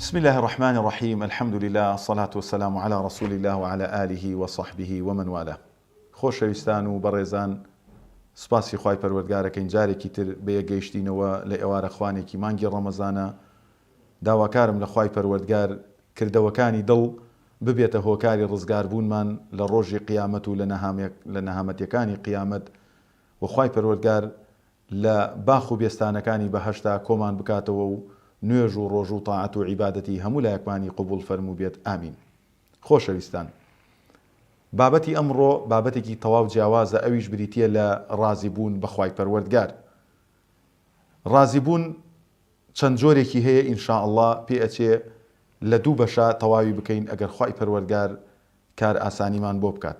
بسم اللە الرحمن الرحیم الحمد للە الصلاة والسلام علی رسول اللە وعلی آله وصحبه ومن والاه خۆشەویستان و بەڕێزان سوپاسی خوای پەروەردگارەکەین جارێکی تر بەیەک گەیشتینەوە لە ئێوارە خوانێکی مانگی ڕەمەزانە داواکارم لە خوای پەروەردگار کردەوەکانی دڵ ببێتە هۆکاری ڕزگار بوونمان لە ڕۆژی قیامەت و لە نەهامەتیەکانی قیامەت وە خوای پەروەردگار لە باخ و بێستانەکانی بەهەشتا کۆمان بکاتەوە و نوێژ و ڕۆژو تاعەت و عیبادەتی هەموو لایەکمانی قبوڵ فەرموو بێت ئامین خۆشەویستان بابەتی ئەمڕۆ بابەتێکی تەواو جیاوازە ئەویش بریتیە لە ڕازی بوون بە خوای پەروەردگار ڕازی بوون چەند جۆرێکی هەیە ان شاء اللە پێ ئەچێ لە دوو بەشا تەواوی بکەین ئەگەر خوای پەروەردگار کار ئاسانیمان بۆ بکات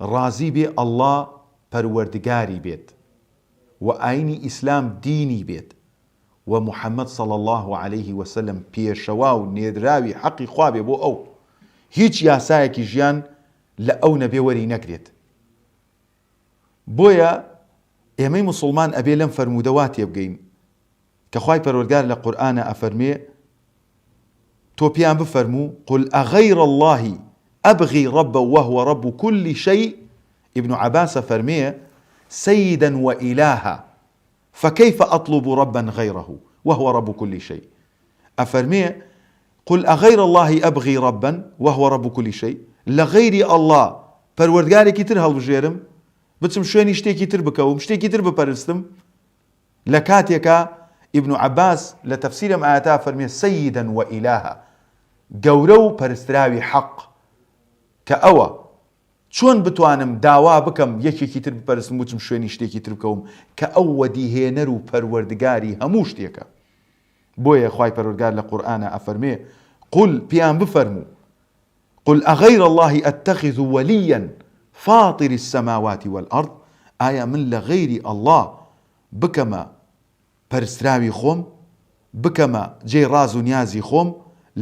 ڕازی بێ اللە پەروەردگاری بێت و ئاینی ئیسلام دینی بێت و محمد صلی اللە علیە وسلم پێشەوا و نێردراوی حەقی خوا بێ بۆ ئەو هیچ یاسایەکی ژیان لە ئەو نەبێ وەری نەگرێت بۆیە ئێمەی موسڵمان ئەبێ لەم فەرموودە وا تێبگەین کە خوای پەروەرگار لە قورئانا ئەفەرموێ تۆ پێیان بفەرموو قل اغیر اللە ابغی ربا وهو رب کل شیء ابن عباس ئەفەرموێ سیدا وئیلاها فکیف اطلب ربا غیرە وهو رب کل شیء ئەفەرموێ قل اغیر اللە ابغی ربا وهو رب کل شیء لە غەیری اللە پەروەردگارێکی تر هەڵبژێرم بچم شوێنی شتێکی تر بکەوم شتێکی تر بپەرستم لە کاتێکا ئیبن عەباس لە تەفسیر ئەم ئایەتە فەرمێ سەیدە و ئیلاهە، گەورە و پەرستراوی حەق، کە ئەوە، چۆن بتوانم داوا بکەم یەکێکی تر بپەرستم بچم شوێنی شتێکی تر بکەوم کە ئەو وەدیهێنەر و پەروەردگاری هەموو شتێکە؟ بۆیە خوای پەروەردگار لە قورئانا ئەفەرمێ، قل، پێیان بفەرموو، قل اغیر اللە اتخذ ولییا فاطر السماوات والارض ئایا من لە غەیری اللە بکەمە پەرستراوی خۆم بکەمە جێی ڕاز و نیازی خۆم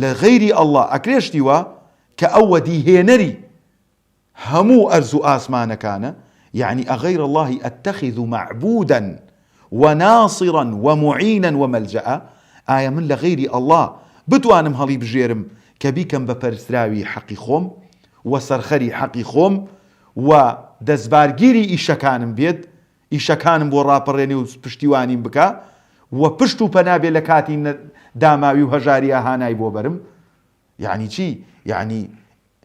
لە غەیری اللە ئەکرێ شتی وا کە ئەو وەدی هێنەری هەموو ئەرز و ئاسمانەکانە یەعنی اغیر اللە اتخذ معبودا وناصرا ومعینا وملجآ، ئایا من لە غەیری اللە بتوانم هەڵیبژێرم کە بیکەم بە پەرستراوی حەقی خۆم و سەرخەری حەقی خۆم و دەستبارگیری ئیشەکانم بێت، ئیشەکانم بۆ ڕاپەڕێنێ و پشتیوانیم بکا و پشت و پەنا بێ لە کاتی داماوی و هەژاریا هانای بۆ بەرم؟ یەعنی چی؟ یەعنی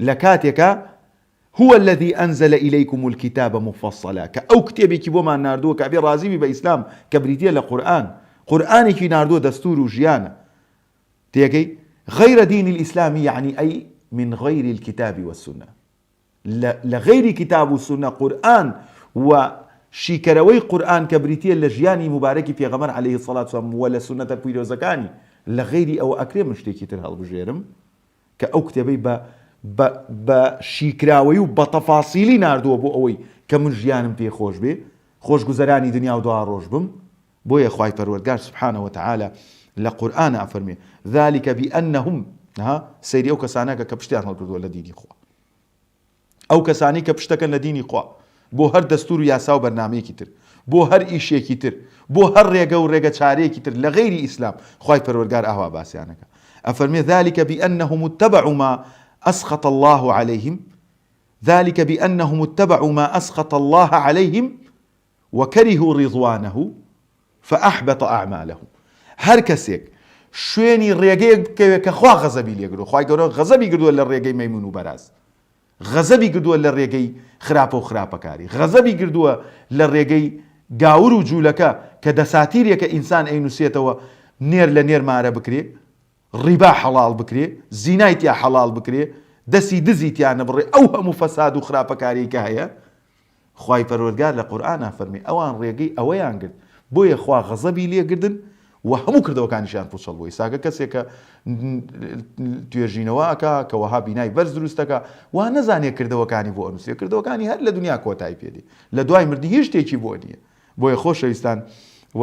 لە کاتێکا، هو الذی انزل الیکم الکتاب مفصلا، کە ئەو کتێبێکی بۆمان ناردووە کە ئەبێ ڕازی بی بە ئیسلام کە بریتییە لە قورئان، قورئانێکی ناردووە دەستوور و ژیانە. تێگەی؟ غیر دین الاسلام یەعنی ئەی من غیر الکتاب والسنە، لە لە غەیری کتاب و سونە، قورئان، و شیکەرەوەی قورئان کە بریتییە لە ژیانی موبارەکی پێغەمبەر علیە الصلوة والسلام و لە سونەتە پیرۆزەکانی، لە غەیری ئەوە ئەکرێ من شتێکی تر هەڵبژێرم؟ کە ئەو کتێبەی بە بە بە شیکراوەی و بە تەفاسیلی ناردووە بۆ ئەوەی کە من ژیانم پێ خۆش بێ خۆش گوزەرانی دنیا و دوا ڕۆژ بم بۆیە خوای پەروەردگار سبحانە وتعالی لە قورئان ئەفەرمێ ذلک بانهم ها سەیری ئەو کەسانەکە کە پشتیان هەڵکردووە لە دینی خوا. ئەو کەسانەی کە پشتەکەن لە دینی خوا، بۆ هەر دەستوور و یاسا و بەرنامەیەکی تر، بۆ هەر ئیشێکی تر، بۆ هەر ڕێگە و ڕێگە چارەیەکی تر لە غەیری ئیسلام، خوای پەروەرگار ئاوا باسیان ئەکا ئەفەرمێ، ذلک بانهم اتبعوا ما اسخط اللە علیهم، ذلک بانهم اتبعوا ما اسخط اللە علیهم، وکرهوا رضوانه فاحبط اعمالهم هەر کەسێک شوێنی ڕێگەیەک بکەوێت کە خوا غەزەبی لێ کردووە خوای گەورە غەزەبی کردووە لە ڕێگەی مەیمون و بەراز غەزەبی کردووە لە ڕێگەی خراپە و خراپەکاری غەزەبی کردووە لە ڕێگەی گاور و جوولەکە کە دەساتیرێکە ئینسان ئەینوسێتەوە نێر لە نێر مارە بکرێ ڕیبا حەڵاڵ بکرێ زینای تیا حەڵاڵ بکرێ دەسی دزی تیا نەبڕێ ئەو هەموو فەساد و خراپەکاریەی کە هەیە خوای پەروەردگار لە قورئانا فەرمی ئەوان ڕێگەی ئەوەیان گرت بۆیە خوا غەزەبی لێ گردن و هەموو کردەوەکانیشیان پوچەڵ بوو ئیساکە کەسێک کە توێژینەوە ئەکا کە وەها بینای بەرز دروست دەکا وا نەزانێ کردەوەکانی بۆ ئەنووسێ کردەوەکانی هەر لە دنیا کۆتای پێدێ لە دوای مردنی هیچ شتێکی بۆ نییە بۆیە خۆشەویستان و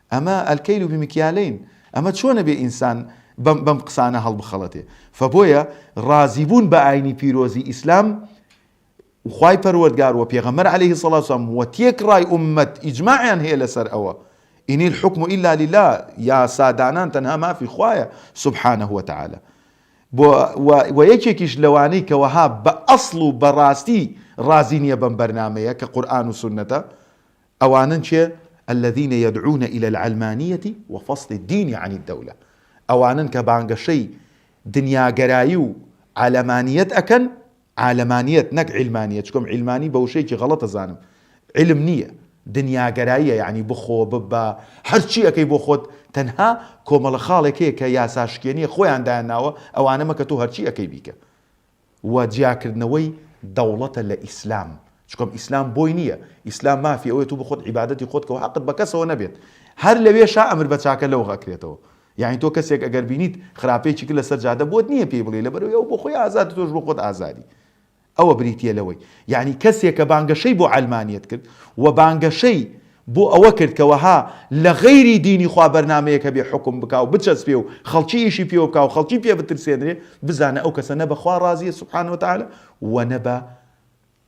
ئەمە الکیل بمکیالین ئەمە چۆنە بێ ئینسان بەم بەم قسانە هەڵبخەڵەتێ فبۆیە ڕازیبوون بە ئاینی پیرۆزی ئیسلام وخوای پەروەردگار وپێغەمبەر علیە سڵ وسلام وتێکڕای ئومەت ئیجماعیان هەیە لەسەر ئەوە ان الحکم الا للە یاسادانان تەنها مافی خوایە سبحانه وتعالی بۆ و یەکێکیش لەوانەی کەوەها بە ئەسڵ و بەڕاستی ڕازی نییە بەم بەرنمەیە کە قورآن و سنەتە ئەوانن کێ؟ الذین یدعون الی العلمانیە و فصل الدین عن الدولە ئەوانن کە بانگەشەی دنیاگەرایی و عەلەمانیەت ئەکەن، عالەمانیەت نەک عیلمانیەت چونکە من عیلمانی بە وشەیەکی غەڵەت ئەزانم عیلم نییە دنیاگەراییە یەعنی بخۆ ببە هەرچی ئەکەی بۆ خۆت تەنها کۆمەڵە خاڵێک هەیە کە یاساشکێنیە خۆیان دایانناوە ئەوانە مەکە تۆ هەرچی ئەکەی بیکە و جیاکردنەوەی دەوڵەتە لە ئیسلام چونکە ئیسلام بۆی نییە ئیسلام مافی ئەوەیە تۆ بخۆت عیبادەتی خۆت کەوە هەقت بە کەسەوە نەبێت هەر لەوێشا ئەمر بە چاکە لەوغ ئەکرێتەوە یانی تۆ کەسێک ئەگەر بینیت خراپەیەکی کرد لەسەر جادە بۆت نییە پێی بڵێ لەبەرەوەی ئەو بۆ خۆی ئازاد تۆش بۆ خۆت ئازادی ئەوە بریتییە لەوەی یعنی کەسێک کە بانگەشەی بۆ عەلمانیت کرد و بانگەشەی بۆ ئەوە کرد کە وەها لە غەیری دینی خوا بەرنامەیەک هەبێ حوکم بکا و بچەسپێ و خەڵکی ئیشی پێوە بکا و خەڵکی پێ بترسێنرێ، بزانە ئەو کەسە نە بە خوا ڕازیە سبحانە وتعالی و نە بە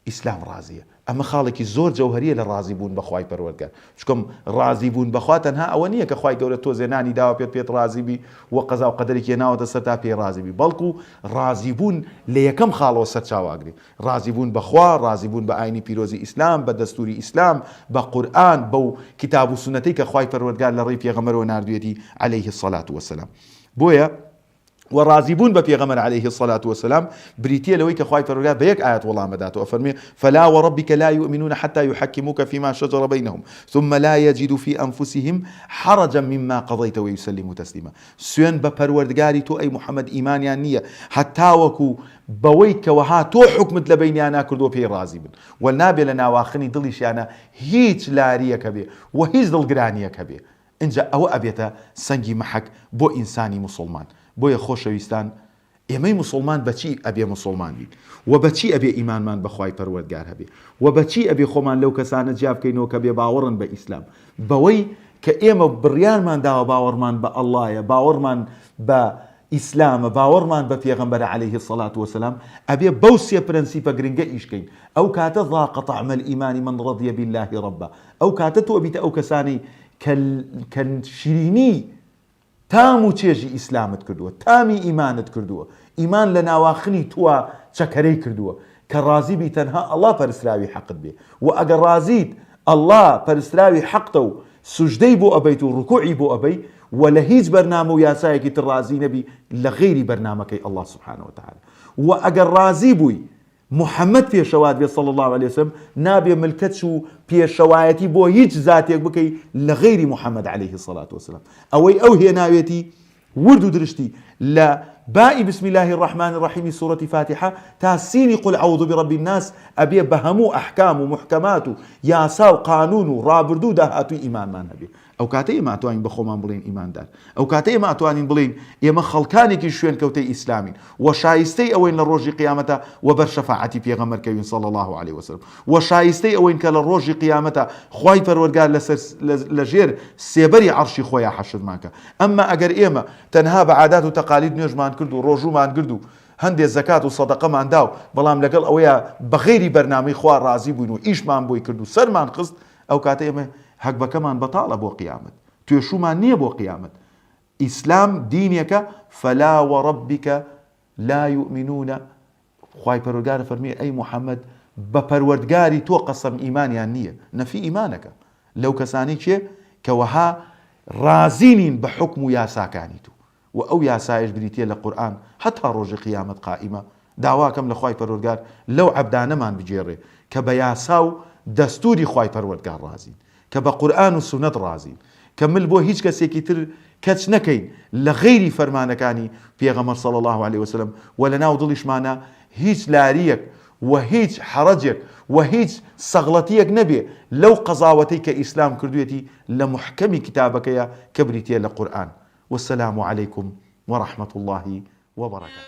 ئیسلام ڕازیە. ئەمە خاڵێکی زۆر جەوهەریە لە ڕازی بوون بە خوای پەروەردگار. چونکە ڕازی بوون بە خوا تەنها ئەوە نیە کە خوای گەورە تۆزێ نانی داوە پێت پێت ڕازی بی و قەزا و قەدەرێکی هێناوەتە سەر تا پێی ڕازی بی، بەڵکو ڕازی بوون لە یەکەم خاڵەوە سەرچاوە ئەگرێ. ڕازیبوون بە خوا، ڕازیبوون بە ئاینی پیرۆزی ئیسلام، بە دەستووری ئیسلام، بە قورئان، بەو کیتاب و سوننەتەی کە خوای پەروەردگار لە ڕێی پێغەمبەرەوە ناردوویەتی علیە الصلوە و السلام. بۆیە وە ڕازیبوون بە پێغەمبەر علیە الصلوە و السلام بریتییە لەوەی کە خوای پەروەردگار بە یەک ئایەت وەڵام ئەدات و ئەفەرموێ، فلا وربک لا یومنون حتی یحکموک فیما شجر بینهم ثم لا یجدوا فی انفسهم حرجا مما قضیت ویسلموا تسلیما سوێند بە پەروەردگاری تۆ ئەی محمد ئیمانیان نییە هەتاوەکو بەوەی کەوەها تۆ حوکمت لەبەینیانا کردووە پێی ڕازی بن و نابێ لە ناواخنی دڵیشیانا هیچ لاریەک هەبێ و هیچ دڵگرانیەک هەبێ ئینجا ئەوە ئەبێتە سەنگی مەحەک بۆ ئینسانی موسوڵمان بۆیە خۆشەویستان ئێمەی موسوڵمان بەچی ئەبێ موسوڵمان بین و بەچی ئەبێ ئیمانمان بەخوای پەروەردگار هەبێ و بەچی ئەبێ خۆمان لەو کەسانە جیا بکەینەوە کە بێباوەڕن بە ئیسلام بەوەی کە ئێمە بڕیارمان داوە باوەڕمان بە اللە یە باوەڕمان بە ئیسلامە باوەڕمان بە پێغەمبەرە علیە الصلوە والسلام ئەبێ بەو سێ پرەنسیپە گرنگە ئیش کەین ئەو کاتە ذاق طعم الایمان من رضی باللە ربا ئەو کاتە تۆ ئەبیتە ئەو کەسانەی کە کە شیرینی تام و چێژی ئیسلامت کردووە تامی ئیمانت کردووە ئیمان لە ناواخنی تووە چەکەرەی کردووە کە ڕازی بی تەنها اللە پەرستراوی حەقت بێ وە ئەگە ڕازیت اللە پەرستراوی حەقتە و سوجدەی بۆ ئەبەیت و ڕکوعی بۆ ئەبەی وە لە هیچ بەرنامە و یاسایەکی تر ڕازی نەبی لە غەیری بەرنامەکەی اللە سبحانە وتعالی وە ئەگەر ڕازی بووی محمد پێشەوات بێ صلی اللە علیە وسلم نابێ ملکەچ و پێشەوایەتی بۆ هیچ زاتێک بکەی لە غەیری محمد علیە الصلوة والسلام ئەوەی ئەو هێناوێتی ورد و درشتی لە بائی بسم اللە الرحمن الرحیم سورەتی فاتیحە تا سینی قل عوذ برب الناس ئەبێ بە هەموو ئەحکام و موحکەمات و یاسا و قانون و ڕابردوو و داهاتووی ئیمانمان هەبێ ئەوکاتە ئێمە ئەتوانین بە خۆمان بڵێین ئیماندار ئەوکاتە ئێمە ئەتوانین بڵێین ئێمە خەڵکانێکی شوێنکەوتەی ئیسلامین و شایستەی ئەوەین لە ڕۆژی قیامەتا وەبەر شەفاعەتی پێغەمبەر کەوین صلی اللە علیە وسلم وە شایستەی ئەوەین کە لە ڕۆژی قیامەتا خوای پەروەرگار لەسەر لەژێر سێبەری عەڕشی خۆیا حەشرمان کا ئەمما ئەگەر ئێمە تەنها بە عادات و تەقالید نوێژمان کرد و ڕۆژوومان گرد و هەندێ زەکات و سەدەقەمان داو بەڵام لەگەڵ ئەوەیا بە غەیری بەرنامەی خوا ڕازی بووین و ئیشمان بۆی کرد و سەرمان خست ئەو کاتە ئێمە هەگبەکەمان بەتاڵە بۆ قیامەت توێشوومان نیە بۆ قیامەت ئیسلام دینێکە فلا وربک لا یومنون خوای پەروەردگار فەرمووی، ئەی موحەمەد بە پەروەردگاری تۆ قەسەم ئیمانیان نییە، نەفی ئیمانەکە لەو کەسانەی کێ کە وەها ڕازی نین بە حوکم و یاساکانی تو وە ئەو یاسایەش بریتیە لە قورئان هەتا ڕۆژی قیامەت قائیمە، داواکەم لە خوای پەروەردگار لەو عەبدانەمان بگێڕێ کە بە یاسا و دەستوری خوای پەروەردگار ڕازین، کە بە قورئان و سوننەت ڕازین، کە مل بۆ هیچ کەسێکی تر کەچ نەکەین لە غەیری فەرمانەکانی پێغەمبەر صلی اللە علیە و سلم وە لە ناو دڵیشمانا هیچ لاریەک وە هیچ حەرەجێک وە هیچ سەغڵەتیەک نەبێ لەو قەزاوەتەی کە ئیسلام کردوێتی لە موحکەمی کتابەکەیا کە بریتیە لە قورئان والسلام علیکم ورحمە اللە وبرکاته.